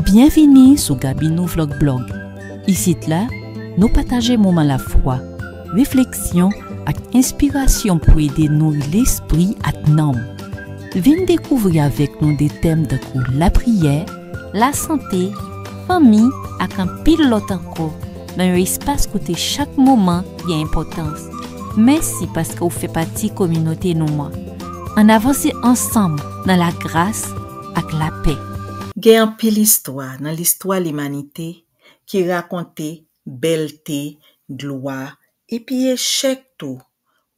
Byenvini sou Gabinou Vlog Blog! Isit la, nou pataje moman lafwa, refleksyon ak enspirasyon pou ede nouri lespri ak nanm. Vin dekouvri avèk nou de tèm tankou lapriyè, lasante, fanmi, ak anpil lòt ankò nan yon espas kote chak moman gen enpòtans. Mèsi paske ou fè pati kominote nou an! Ann avanse ansanm nan lagras ak lapè. Gen anpil istwa nan listwa limanite ki rakonte bèlte, glwa, epi echèk tou,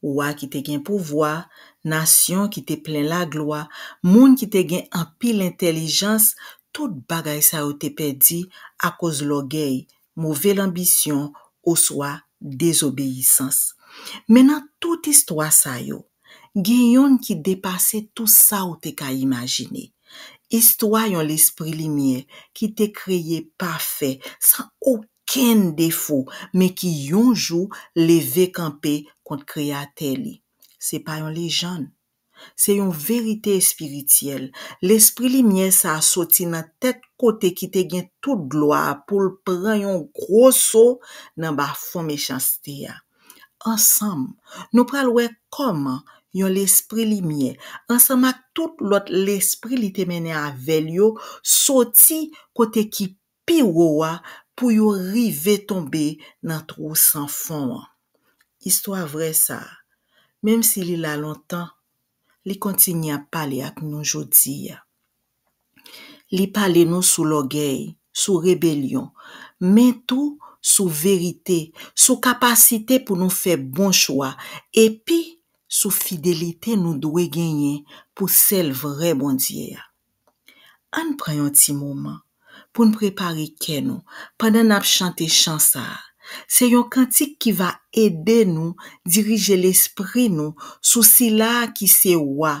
wa ki te gen pouvwa, nasyon ki te plen laglwa, moun ki te gen anpil entèlijans, tout bagay sa yo te pèdi akoz lògèy, move lanbisyon, oswa dezobeyisans. Men nan tout istwa sa yo, Gen yonn ki depase tou sa ou te ka imajine. Istwa yon Lespri limyè ki te kreye pafè, san okenn defo, men ki yon jou leve kanpe kont Kreyatè li. Se pa yon lejann. Se yon verite espirityèl. Lespri limyè sa a soti nan tèt kote ki te gen tout glwa a pou l pran yon gwo so nan bafon mechanste a. Ansanm, nou pral wè kòman yon lespri limyè, ansanm ak tout lòt lespri li te mennen avè l yo, soti Kote ki pi wo a pou yo rive tonbe nan twou san fon an. Istwa vrè sa a, menmsi li la lontan, li kontinye ap pale ak nou jodi a. Li pale nou sou lògèy, sou rebelyon, men tou sou verite, sou kapasite pou nou fè bon chwa, epi sou fidelite nou dwe genyen pou sèl vrè Bondye a. Ann pran yon ti moman pou n prepare kè nou pandan n ap chante chan sa a. Se yon kantik ki va ede nou dirije lespri nou sou Sila a ki se Wa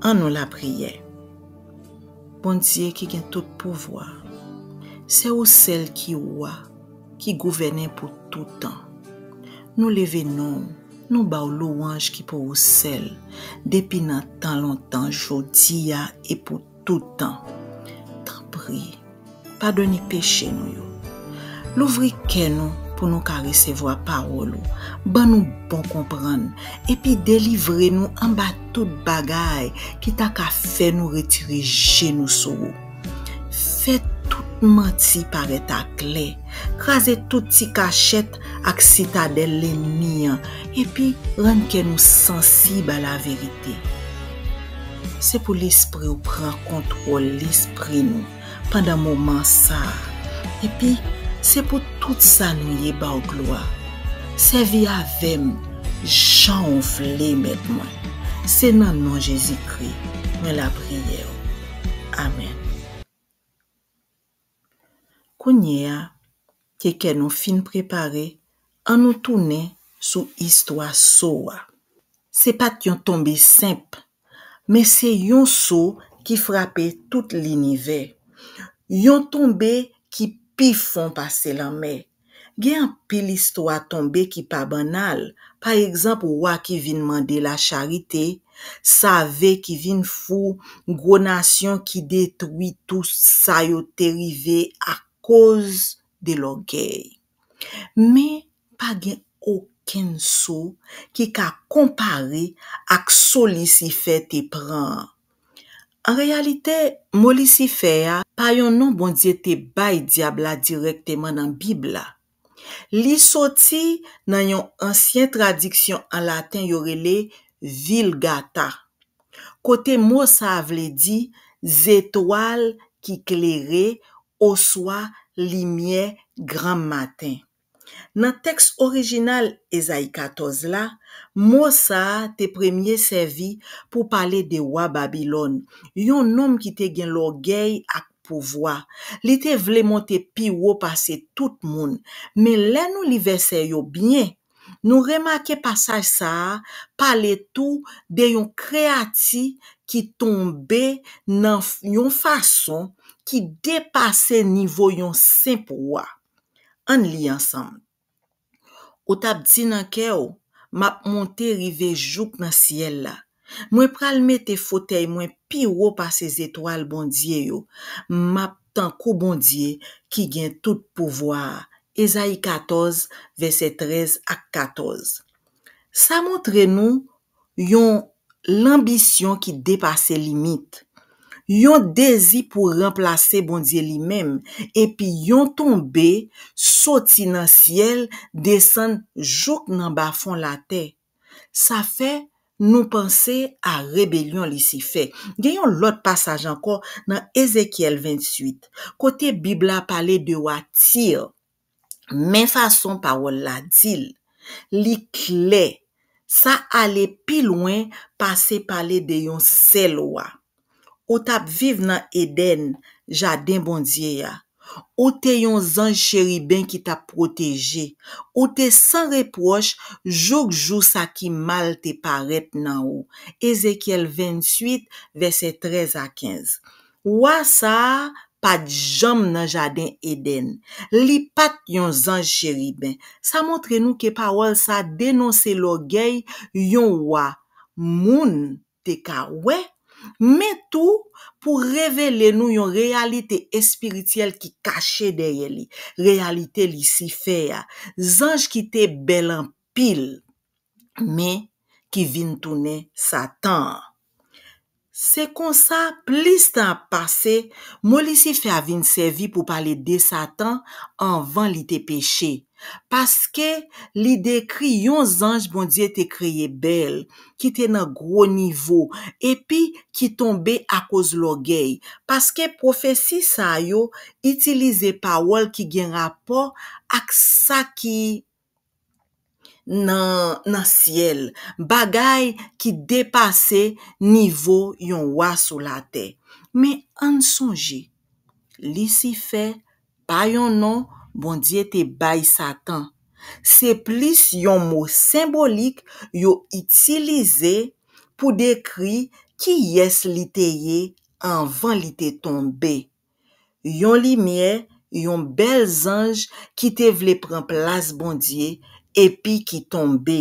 An nou lapriyè. Bondye ki gen tout pouvwa, se ou sèl ki Wa, ki gouvènen pou toutan. Nou leve non ou, nou ba ou louwanj ki pou ou sèl, depi nan tan lontan, jodi a e pou tout tan. Tanpri, padone peche nou yo. Louvri kè nou pou nou ka resevwa pawòl ou, ban nou bon konprann, epi delivre nou anba tout bagay ki ta ka fè nou retire je nou sou ou. Fè tout manti parèt aklè. Kraze tout ti kachèt ak sitadèl lennmi an epi rann kè nou sansib a laverite. Se pou Lespri ou pran kontwòl lespri nou pandan moman sa a, epi se pou tout sa nou ye ba w glwa. Sèvi avè m jan ou vle, Mèt mwen. Se nan non Jezikri mwen lapriyè w. Amèn. Kounye a ke kè nou fin prepare, an nou tounen sou istwa so a. Se pa t yon tonbe senp, men se yon so ki frape tout linivè. Yon tonbe ki pi fon pase lanmè, Gen anpil istwa tonbe ki pa bannal, pa egzanp wa ki vin mande lacharite, save ki vin fou, gwo nasyon ki detwi tou sa yo te rive akoz de lògèy. Men, pa gen okenn so ki ka konpare ak so Lisifè te pran an. An reyalite, mo Lisifè a pa yon non Bondye te bay Dyab la dirèkteman nan Bib la. Li soti nan yon ansyen tradiksyon an laten yo rele Vilgata, kote mo sa a vle di zetwal ki klere oswa limyè granmmaten. Nan tèks orijinal Ezayi 14 la, mo sa a te premye sèvi pou pale de wa Babilòn, yon nonm ki te gen lògèy ak pouvwa. Li te vle monte pi wo pase tout moun. Men lè nou li vèsè yo byen, nou remake pasaj sa a pale tou de yon kreyati ki tonbe nan yon fason ki depase nivo yon senp wa. Ann li ansanm. Ou t ap di nan kè w, M ap monte rive jouk nan syèl la. Mwen pral mete fotèy mwen pi wo pase zetwal Bondye yo. M ap tankou Bondye ki gen tout pouvwa a. Ezayi 14, vèsè 13 ak 14 Sa montre nou yon lanbisyon ki depase limit, yon dezi pou ranplase Bondye li menm, epi yon tonbe soti nan syèl desann jouk nan bafon latè. Sa fè nou panse a rebelyon Lisifè. Gen yon lòt pasaj ankò nan Ezekyèl 28, kote Bib la pale de wa Tir. Men fason pawòl la di l, li klè, sa ale pi lwen pase pale de yon sèl wa. Ou t ap viv nan Edenn, jaden Bondye a. Ou te yon zanj cheriben ki t ap pwoteje. Ou te san repwòch jouk jou sa ki mal te parèt nan ou. Ezekyèl 28, vèsè 13 a 15. Wa sa a pa t janm nan jaden Edenn. Li pa t yon zanj cheriben. Sa montre nou ke pawòl sa a denonse lògèy yon wa moun te ka wè, men tou pou revele nou yon reyalite espirityèl ki kache dèyè li, reyalite Lisifè a, zanj ki te bèl pil, men ki vin tounen Satan an. Se konsa, plis tan ap pase, mo Lisifè a vin sèvi pou pale de Satan anvan li te peche, paske li dekri yon zanj Bondye te kreye bèl, ki te nan gwo nivo, epi ki tonbe akoz lògèy, paske pwofesi sa yo itilize pawòl ki gen rapò ak sa ki nan syèl, bagay ki depase nivo yon wa sou latè. Men, ann sonje, Lisifè pa yon non Bondye te bay Satan. Se plis yon mo senbolik yo itilize pou dekri kiyès li te ye anvan li te tonbe. yon limyè, yon bèl zanj ki te vle pran plas Bondye epi ki tonbe.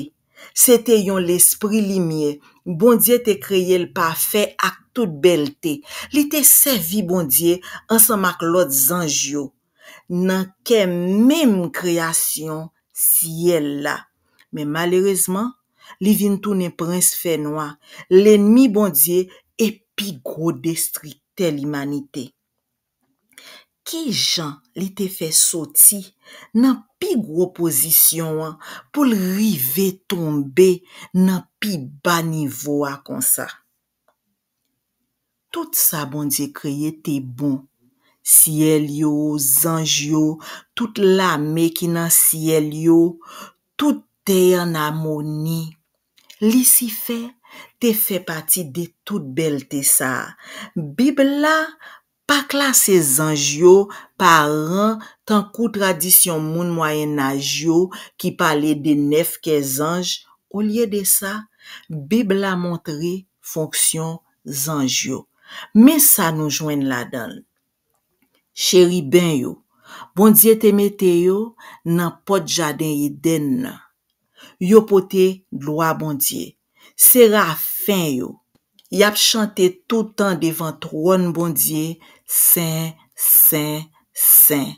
Se te yon lespri limyè. Bondye te kreye l pafè ak tout bèlte. Li te sèvi Bondye ansanm ak lòt zanj yo nan kè menm kreyasyon syèl la. Men malerezman, li vin tounen prens fènwa, lenmi Bondye e pi gwo destriktè limanite. Ki jan li te fè soti nan pi gwo pozisyon an pou l rive tonbe nan pi ba nivo a konsa? Tout sa Bondye kreye te bon, syèl yo, zanj yo, tout lame ki nan syèl yo, tout te an amoni. Lisifè te fè pati de tout bèlte sa a. Bib la Pa klase zanj yo pa ran tankou tradisyon moun Mwayennaj yo ki pale de nèf kè zanj, olye de sa, Bib la montre fonksyon zanj yo. Men sa nou jwenn ladan l, Cheriben yo, Bondye te mete yo nan pòt jaden Edenn nan. Yo pote glwa Bondye, Serafen yo, y ap chante toutan devan twòn Bondye, Sen, sen, sen.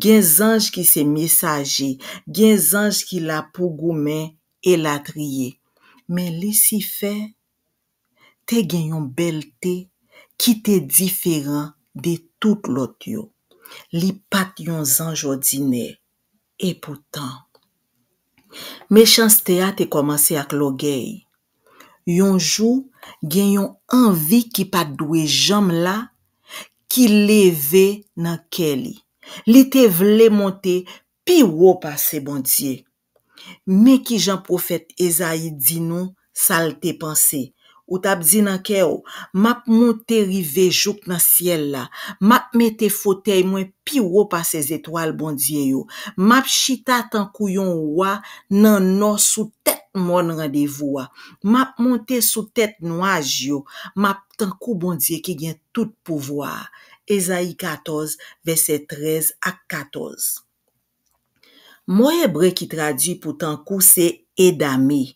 Gen zanj ki se mesaje, gen zanj ki la pou goumen, elatriye. Men Lisifè te gen yon bèlte ki te diferan de tout lòt yo. Li pa t yon zanj òdinè. Epoutan, mechanste a te kòmanse ak lògèy. Yon jou, gen yon anvi ki pa t dwe janm la ki leve nan kè li. Li te vle monte pi wo pase Bondye. Men ki jan pwofèt Ezayi di nou Sa l te panse? Ou t ap di nan kè w, M ap monte rive jouk nan syèl la. M ap mete fotèy mwen pi wo pase zetwal Bondye yo. M ap chita tankou yon wa nan nò sou tèt mòn randevou a. M ap monte sou tèt nwaj yo. M ap tankou Bondye ki gen tout pouvwa a. Ezayi 14, vèsè 13 ak 14 Mo ebre ki tradui pou tankou se edame.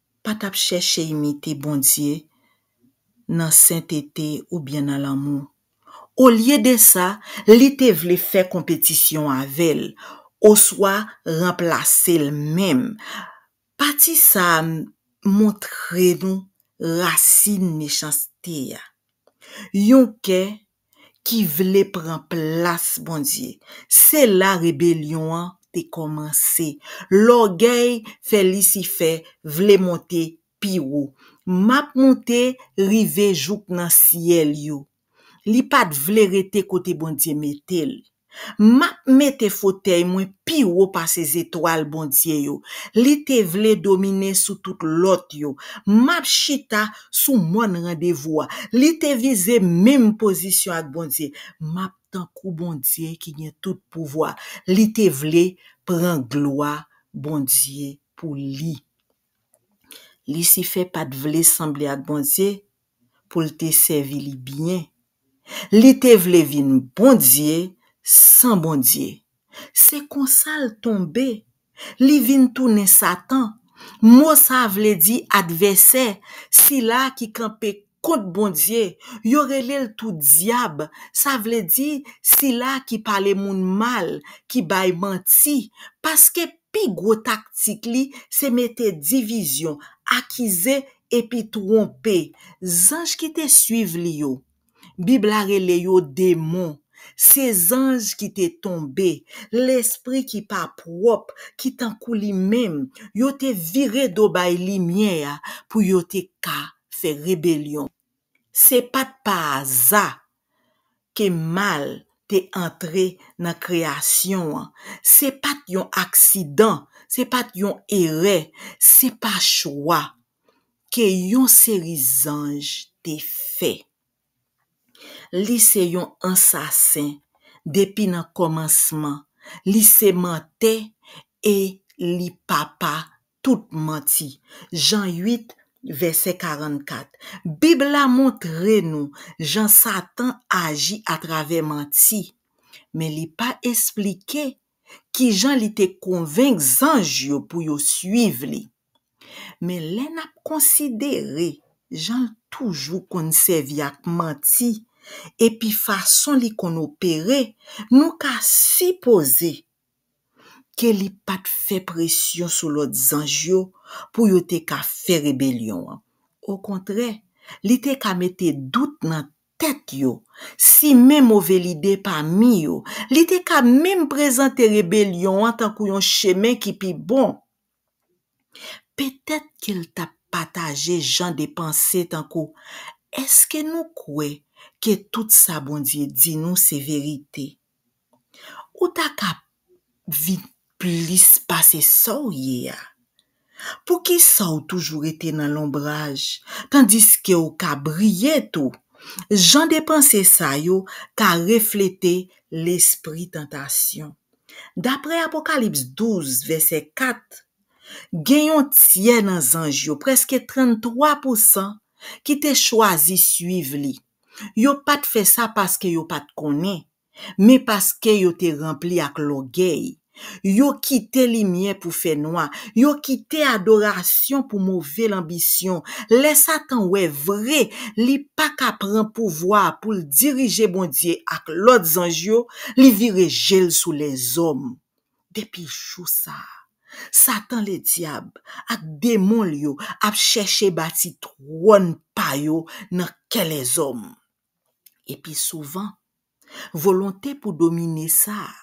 pa t ap chèche imite Bondye nan sentete oubyen nan lanmou. Olye de sa, li te vle fè konpetisyon avè l, oswa ranplase l menm. Pati sa a montre nou rasin mechanste a, yon kè ki vle pran plas Bondye. Se la rebelyon an te kòmanse. Lògèy fè Lisifè vle monte pi wo. M ap monte rive jouk nan syèl yo. Li pa t vle rete kote Bondye mete li. Map mete fotèy mwen pi wo pase zetwal Bondye yo, li te vle domine sou tout lòt yo. Map chita sou mòn randevou a, li te vize menm pozisyon ak Bondye. Map tankou Bondye ki gen tout pouvwa, li te vle pran glwa Bondye pou li. Lisifè pa t vle sanble ak Bondye pou l te sèvi li byen. Li te vle vin Bondye san Bondye. Se konsa l tonbe. Li vin tounen Satan. Mo sa a vle di advèsè, sila a ki kanpe Kont Bondye, yo rele l tou Dyab, sa vle di, Sila ki pale moun mal, ki bay manti, paske pi gwo taktik li se mete divizyon, akize, epi twonpe. Zanj ki te suiv li yo, Bib la rele yo demon, se zanj ki te tonbe, lespri ki pa pwòp, ki tankou li menm, yo te vire do bay limyè a pou yo te ka fè rebelyon. Se pa t pa aza ke mal te antre nan kreyasyon an. Se pa t yon aksidan, se pa t yon erè, se pa chwa ke yon seri zanj te fè. Li se yon ansasen depi nan komansman li se mantè e li papa tout manti Jan 8 vèsè 44 Bib la montre nou jan satan aji atravè manti men li pa esplike kijan li te konvenk zanj yo pou yo suiv li. Men lè n ap konsidere jan l toujou konn sèvi ak manti epi fason li konn opere, nou ka sipoze ke li pa t fè presyon sou lòt zanj yo pou yo te ka fè rebelyon an. Okontrè, li te ka mete dout nan tèt yo, simen move lide pami yo. Li te ka menm prezante rebelyon an tankou yon chemen ki pi bon. Petèt ke l t ap pataje jan de panse tankou, Èske nou kwè ke tout sa Bondye di nou se verite? ou ta ka vin plis pase sa w ye a? Poukisa w toujou rete nan lonbraj tandiske w ka briye tou? Jan de panse sa yo ka reflete lespri tantasyon. Dapre Apokalips 12, vèsè 4, gen yon tyè nan zanj yo, prèske 33 pousan, ki te chwazi suiv li. Yo pa t fè sa paske yo pa t konnen, men paske yo te ranpli ak lògèy. Yo kite limyè pou fè nwa, yo kite adorasyon pou move lanbisyon. Lè Satan wè vre li pa ka pran pouvwa a pou l dirije Bondye ak lòt zanj yo, li vire je l sou lèzòm. Depi jou sa a, Satan Ledyab ak demon l yo ap chèche bati twòn pa yo nan kè lèzòm. E pi souvan, volonte pou domine sa a,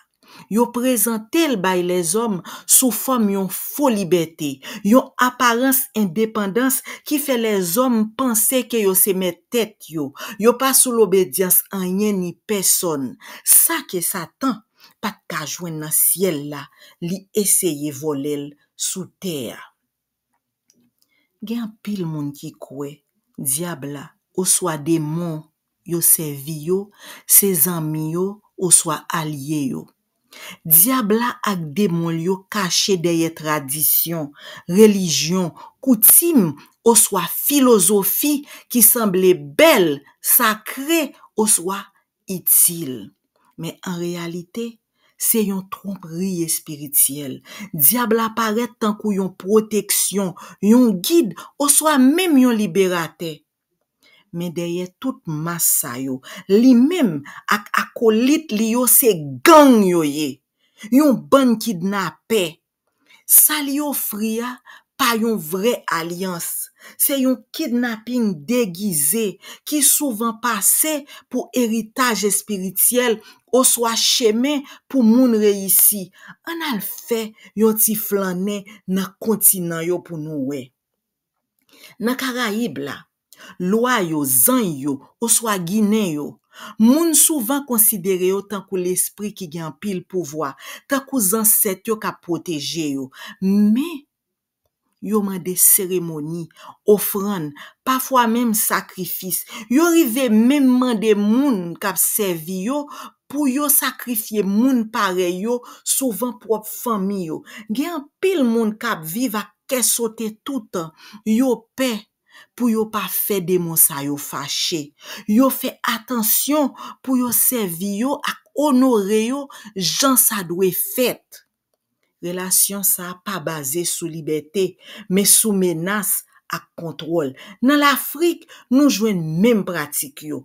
yo prezante l bay lèzòm sou fòm yon fo libète, yon aparans endepandans ki fè lèzòm panse ke yo se mèt tèt yo, yo pa sou lobedyans anyen ni pèsòn. Sa ke Satan pat ka jwenn nan syèl la li eseye vòlèl sou tè a. Gen anpil moun ki kwè Dyab la oswa demon yo sèvi yo se zanmi yo oswa alye yo. Dyab la ak demon l yo kache dèyè tradisyon, relijyon, koutim oswa filozofi ki sanble bèl, sakre oswa itil. Men an reyalite, se yon twonpri espirityèl. Dyab la parèt tankou yon pwoteksyon, yon gid, oswa menm yon liberatè. Men dèyè tout mas sa yo, li menm ak akolit li yo se gang yo ye, yon bann kidnapè, Sa li ofri a pa yon vrè alyans, se yon kidnaping degize ki souvan pase pou eritaj espirityèl oswa chemen pou moun reyisi. Ann al fè yon ti flannen nan kontinan yo pou nou wè. Nan Karayib la, Lwa yo, zany yo, oswa ginen yo. Moun souvan konsidere yo tankou lespri ki gen anpil pouvwa, tankou zansèt yo k ap pwoteje yo. Men, yo mande seremoni, ofrann, pafwa menm sakrifis. Yo rive menm mande moun k ap sèvi yo pou yo sakrifye moun parèy yo, souvan pwòp fanmi yo. Gen anpil moun k ap viv ak kè sote toutan, yo pè pou yo pa fè demon sa yo fache. Yo fè atansyon pou yo sèvi yo ak onore yo jan sa dwe fèt. Relasyon sa a pa baze sou libète, men sou menas ak kontwòl. Nan Lafrik, nou jwenn menm pratik yo,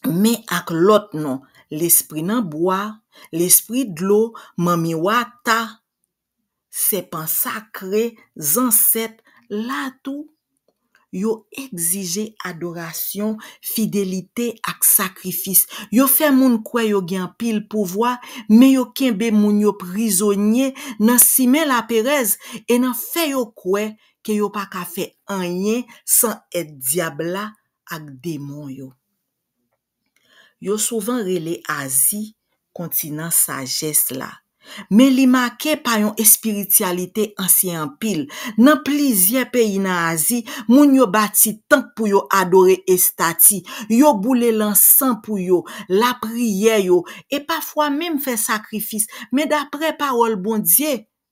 men ak lòt non, lespri nan bwa, lespri dlo, manmi wata. sèpan sakre zansèt la tou, yo egzije adorasyon, fidelite ak sakrifis. Yo fè moun kwè yo gen anpil pouvwa, men yo kenbe moun yo prizonye nan simen laperèz e nan fè yo kwè ke yo pa ka fè anyen san èd Dyab la ak demon yo. Yo souvan rele Azi kontinan sajès la, men li make pa yon espirityalite ansyen anpil. Nan plizyè peyi nan Azi, moun yo bati tanp pou yo adore estati, yo boule lansan pou yo, lapriyè yo, e pafwa menm fè sakrifis, men dapre Pawòl Bondye,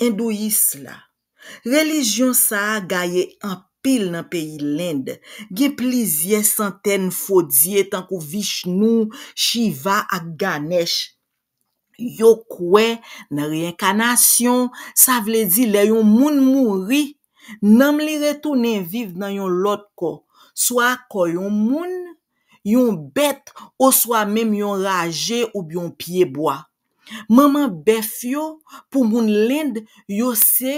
Endouyis la. Relijyon sa a gaye anpil nan peyi Lend. Gen plizyè santèn fo dye tankou Vishnou, Shiva ak Ganesh. Yo kwè nan reyenkanasyon, sa vle di lè yon moun mouri, nanm li retounen viv nan yon lòt kò, swa kò yon moun, yon bèt oswa menm yon raje oubyen yon pyebwa. Manman bèf yo pou moun lend yo se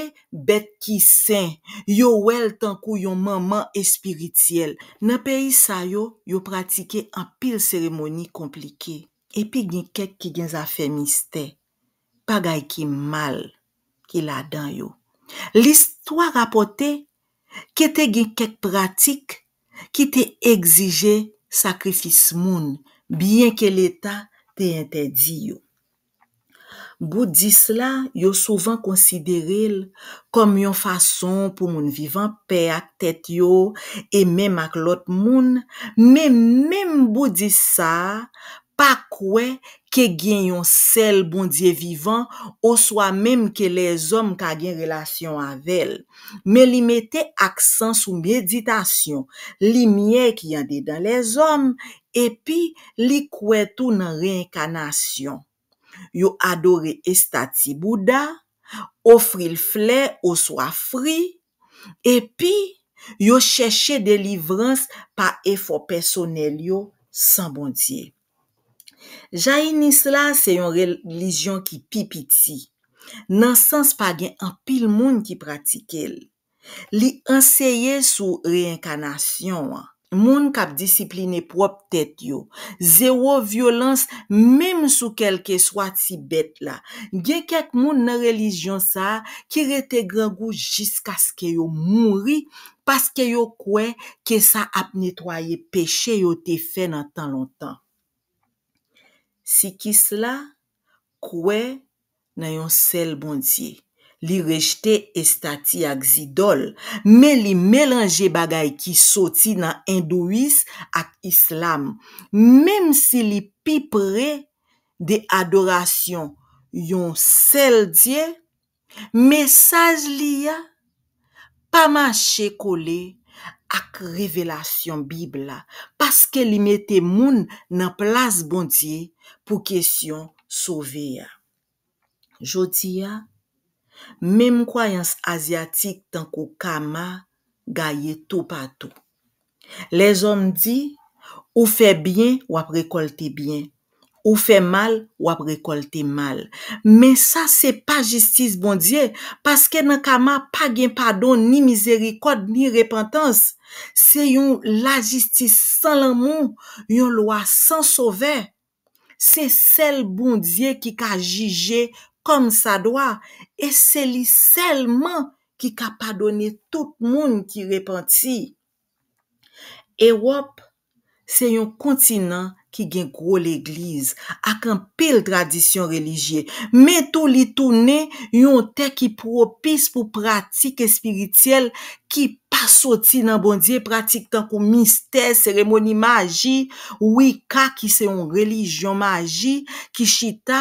bèt ki sen, yo wè l tankou yon manman espirityèl. Nan peyi sa yo, yo pratike anpil seremoni konplike, epi gen kèk ki gen zafè mistè, bagay ki mal, ki ladan yo. Listwa rapòte ke te gen kèk pratik ki te egzije sakrifis moun, byenke leta te entèdi yo. Boudis la, yo souvan konsidere l kòm yon fason pou moun viv an pè ak tèt yo e menm ak lòt moun, men menm boudis sa a pa kwè ke gen yon sèl Bondye vivan oswa menm ke lèzòm ka gen relasyon avè l, men li mete aksan sou meditasyon, limyè ki andedan lèzòm, epi li kwè tou nan reenkanasyon. Yo adore estati Bouda, ofri l flè oswa fri, epi yo chèche delivrans pa efò pèsonèl yo san Bondye. Jayinis la se yon relijyon ki pi piti, nan sans pa gen anpil moun ki pratike l. Li anseye sou reyenkanasyon an. Moun k ap disipline pwòp tèt yo. Zewo vyolans menm sou kèlkeswa ti bèt la. Gen kèk moun nan relijyon sa a ki rete grangou jiskaske yo mouri paske yo kwè ke sa ap netwaye peche yo te fè nan tan lontan. Sikis la kwè nan yon sèl Bondye. Li rejte estati ak zidòl, men li melanje bagay ki soti nan Endouyis ak Islam, menm si li pi pre de adorasyon yon sèl Dye, Mesaj li a pa mache kole ak revelasyon Bib la paske li mete moun nan plas Bondye pou kesyon sove a. Jodi a, menm kwayans azyatik tankou Kama gaye toupatou. Lèzòm di, Ou fè byen, w ap rekòlte byen. Ou fè mal, w ap rekòlte mal. Men sa se pa jistis Bondye, paske nan Kama pa gen padon, ni mizerikòd, ni repantans. Se yon lajistis san lanmou, yon lwa san sovè. Se sèl Bondye ki ka jije kòmsadwa e se li sèlman ki ka padone tout moun ki repanti. Ewòp se yon kontinan ki gen gwo legliz ak anpil tradisyon relijye, men tou li tounen yon tè ki pwopis pou pratik espirityèl ki Pa soti nan Bondye, pratik tankou mistè, seremoni maji, Wicca ki se yon relijyon maji ki chita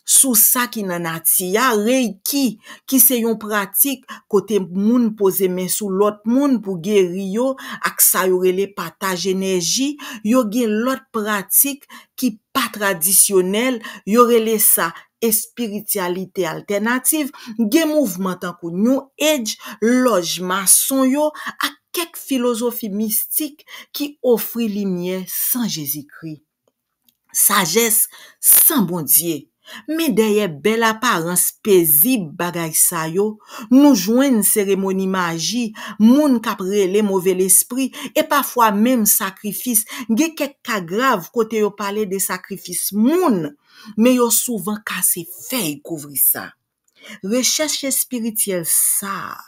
sou sa ki nan nati a, Reiki ki se yon pratik kote moun poze men sou lòt moun pou geri yo ak sa yo rele pataj enèji, yo gen lòt pratik ki pa tradisyonèl, yo rele sa espirityalite altènativ, gen mouvman tankou New Age, lòj mason yo, ak kèk filozofi mistik ki ofri limyè san Jezikri, sajès san Bondye. Men dèyè bèl aparans pezib bagay sa yo, nou jwenn seremoni maji, moun k ap rele move lespri, e pafwa menm sakrifis, gen kèk ka grav kote yo pale de sakrifis moun, Men yo souvan kase fèy kouvri sa. Rechèch espirityèl sa a,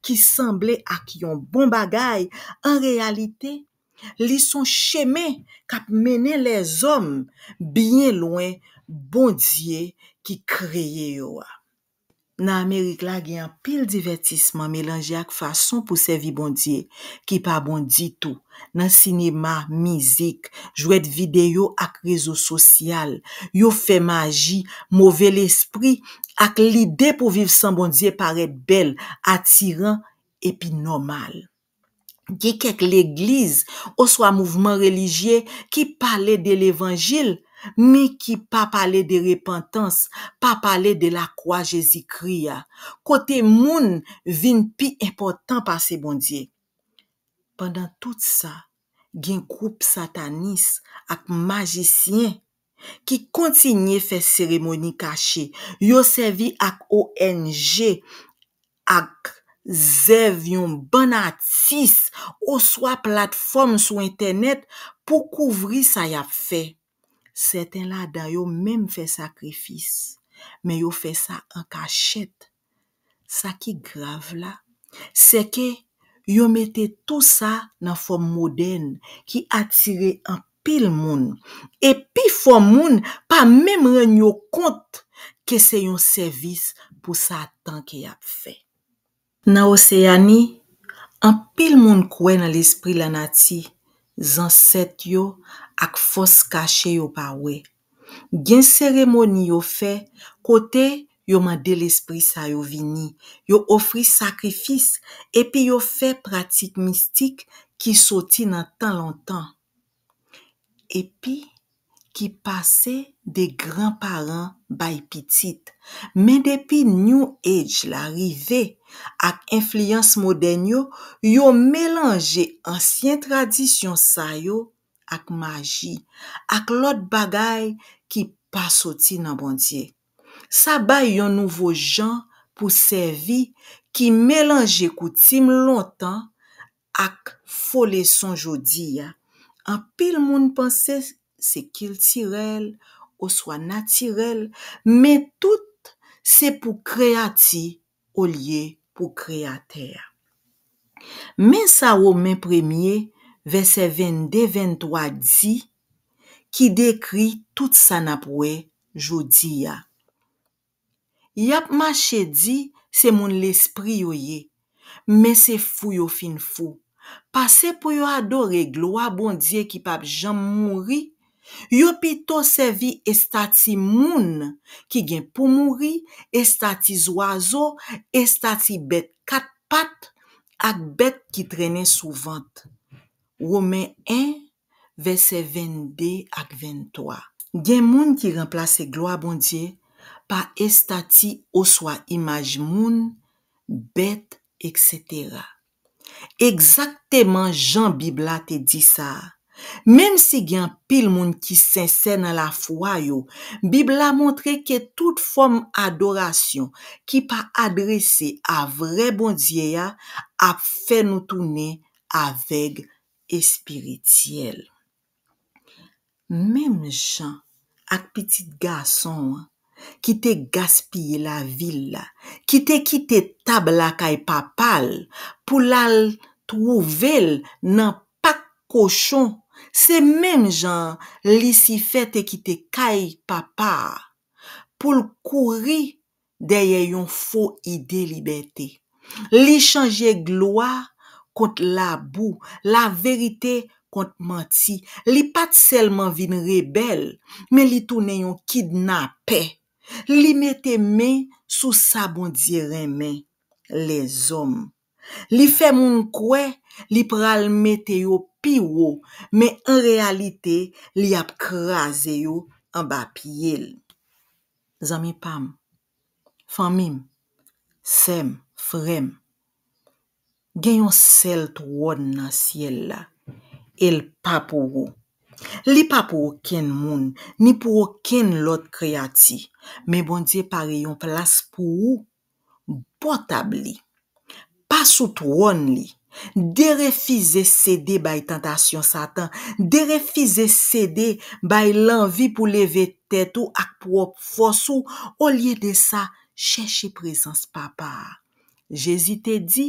ki sanble ak yon bon bagay, an reyalite, li son chemen k ap mennen lèzòm byen lwen Bondye ki kreye yo a. Nan Amerik la gen anpil divètisman melanje ak fason pou sèvi Bondye ki pa bon ditou, nan sinema, mizik, jwèt videyo ak rezo sosyal, yo fè maji, move lespri, ak lide pou viv san Bondye parèt bèl, atiran, epi nòmal. Gen kèk legliz oswa mouvman relijye ki pale de levanjil men ki pa pale de repantans, pa pale de lakwa Jezikri a, kote moun vin pi enpòtan pase Bondye. Pandan tout sa, gen gwoup satanis ak majisyen. ki kontinye fè seremoni kache, yo sèvi ak ong ak zèv yon bann atis oswa platfòm sou entènèt pou kouvri sa y ap fè. Sèten ladan yo menm fè sakrifis, men yo fè sa an kachèt. Sa ki grav la, sèke yo mete tou sa nan fòm modèn ki atire anpil moun, e pifò moun pa menm rann yo kont ke se yon sèvis pou Satan ke y ap fè. Nan Oseyani, anpil moun kwè nan lespri lanati, zansèt yo, ak fòs kache yo pa wè, Gen seremoni yo fè kote yo mande lespri sa yo vini, yo ofri sakrifis, epi yo fè pratik mistik ki soti nan tan lontan epi ki pase de gran paran bay pitit. Men depi New Age la rive ak enfliyans modèn yo, yo melanje ansyen tradisyon sa yo ak maji, ak lòt bagay ki pa soti nan Bondye. Sa bay yon nouvo jan pou sèvi ki melanje koutim lontan ak fo leson jodi a. Anpil moun panse se kiltirèl oswa natirèl, men tout se pou kreyati olye pou Kreyatè a. Men sa Women premye, vèsè 22, 23 di, ki dekri tout sa n ap wè jodi a, Y ap mache di se moun lespri yo ye, men se fou yo fin fou, pase pou yo adore glwa Bondye ki pap janm mouri Yo pito sèvi estati moun ki gen pou mouri, estati zwazo, estati bèt kat pat, ak bèt ki trennen sou vant. Women 1, vèsè 22 ak 23. Gen moun ki ranplase glwa Bondye pa estati oswa imaj moun, bèt, eksetera. Egzakteman jan Bib la te di sa a. Menmsi gen anpil moun ki sensè nan lafwa yo, Bib la montre ke tout fòm adorasyon ki pa adrese a vrè Bondye a ap fè nou tounen avèg espirityèl. Menm jan ak pitit gason an ki te gaspiye lavi l la, ki te kite tab lakay papa l pou l al twouve l nan pak kochon, se menm jan an Lisifè te kite kay Papa a pou l kouri dèyè yon fo ide libète. Li chanje glwa kont labou, laverite kont manti. Li pa t sèlman vin rebèl, men li tounen yon kidnapè. Li mete men sou sa Bondye renmen, lèzòm. Li fè moun kwè li pral mete yo pi wo, men an reyalite li ap kraze yo anba pye l. Zanmi pa m, fanmi m, sè m, frè m, gen yon sèl twòn nan syèl la, e l pa pou ou. Li pa pou okenn moun, ni pou okenn lòt kreyati, men Bondye pare yon plas pou ou bò tab li, pa sou twòn li, derefize sede bay tantasyon Satan, derefize sede bay lanvi pou leve tèt ou ak pwòp fòs ou, olye de sa, chèche prezans Papa a. Jezi te di,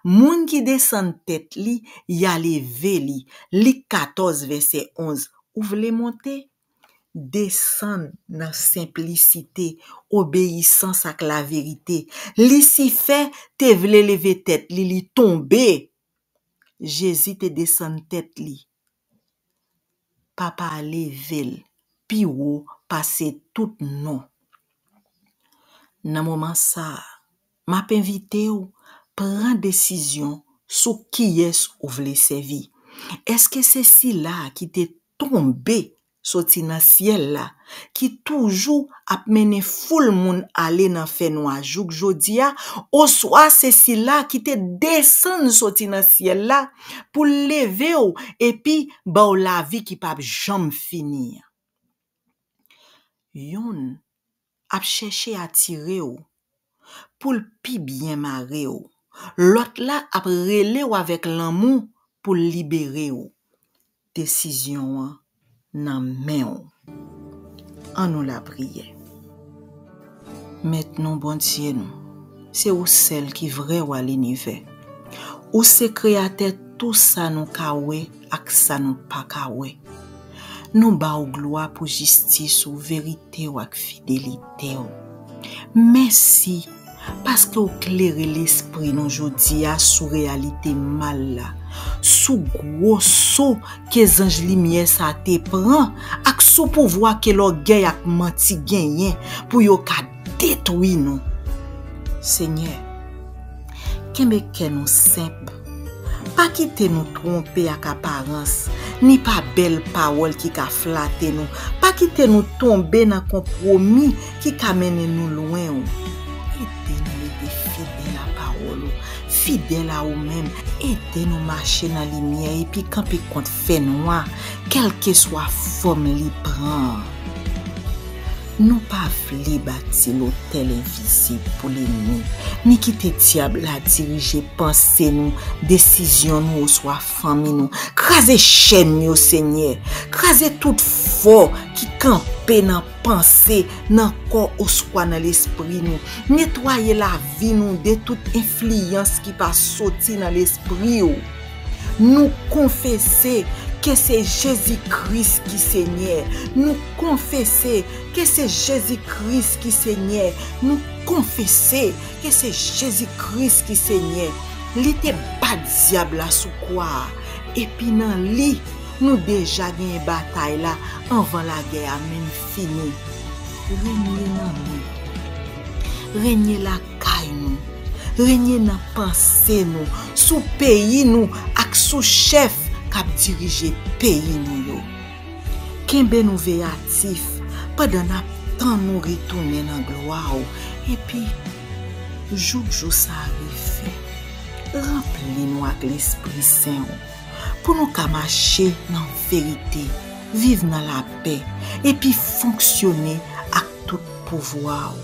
Moun ki desann tèt li, y a leve li, Lik 14, vèsè 11, ou vle monte? desann nan senplisite, obeyisans ak laverite. Lisifè te vle leve tèt li, li tonbe. Jezi te desann tèt li. Papa a leve l pi wo pase tout non. Nan moman sa a. M ap envite w pran desizyon sou kiyès ou vle sèvi. Èske se Sila a ki te tonbe soti nan syèl la, ki toujou ap mennen foul moun ale nan fènwa jouk jodi a, oswa se Sila a ki te desann soti nan syèl la pou l leve w epi ba w lavi ki pap janm fini an? Youn ap chèche atire w pou l pi byen mare w lòt la ap rele w avèk lanmou pou l libere w desizyon an nan men w an nou lapriyè mèt nou bondye nou se ou sèl ki vrè wa linivè ou se kreyatè tou sa nou ka wè. ak sa nou pa ka wè. Nou ba w glwa pou jistis ou, verite w ak fidelite w. Mèsi paske w klere lespri nou jodi a sou reyalite mal la, sou gwo so ke zanj limyè sa te pran ak sou pouvwa ke lògèy ak manti genyen pou yo ka Detwi nou, Senyè. Kenbe kè nou senp. Pa kite nou twonpe ak aparans, ni pa bèl pawòl ki ka flate nou. Pa kite nou tonbe nan konpwomi ki ka mennen nou lwen ou. Ede nou rete fidèl a pawòl ou, fidèl a ou menm. Ede nou mache nan limyè epi kanpe kont fènwa, kèlkeswa fòm li pran an. Nou pa vle bati lotèl envizib pou lennmi, ni kite dyab la dirije panse nou, desizyon nou oswa fanmi nou. Kraze chèn yo, Senyè! Kraze tout fò ki kanpe nan panse, nan kò oswa nan lespri nou. Netwaye lavi nou de tout enfliyans ki pa soti nan Lespri ou. Nou konfese ke se Jezi Kris ki Senyè Nou konfese ke se Jezi Kris ki Senyè Nou konfese ke se Jezi Kris ki Senyè Li te bat dyab la sou kwa a epi nan Li nou deja genyen batay la anvan lagè a menm fini Renye nan nou Renye la. kay nou, renye nan panse nou, sou peyi nou ak sou chèf k ap dirije peyi nou yo. Kenbe nou veyatif pandan n ap tann ou retounen nan glwa w epi, jouk jou sa a rive, ranpli nou ak lespri sen w pou nou ka mache nan verite, viv nan lapè epi fonksyone ak tout pouvwa w.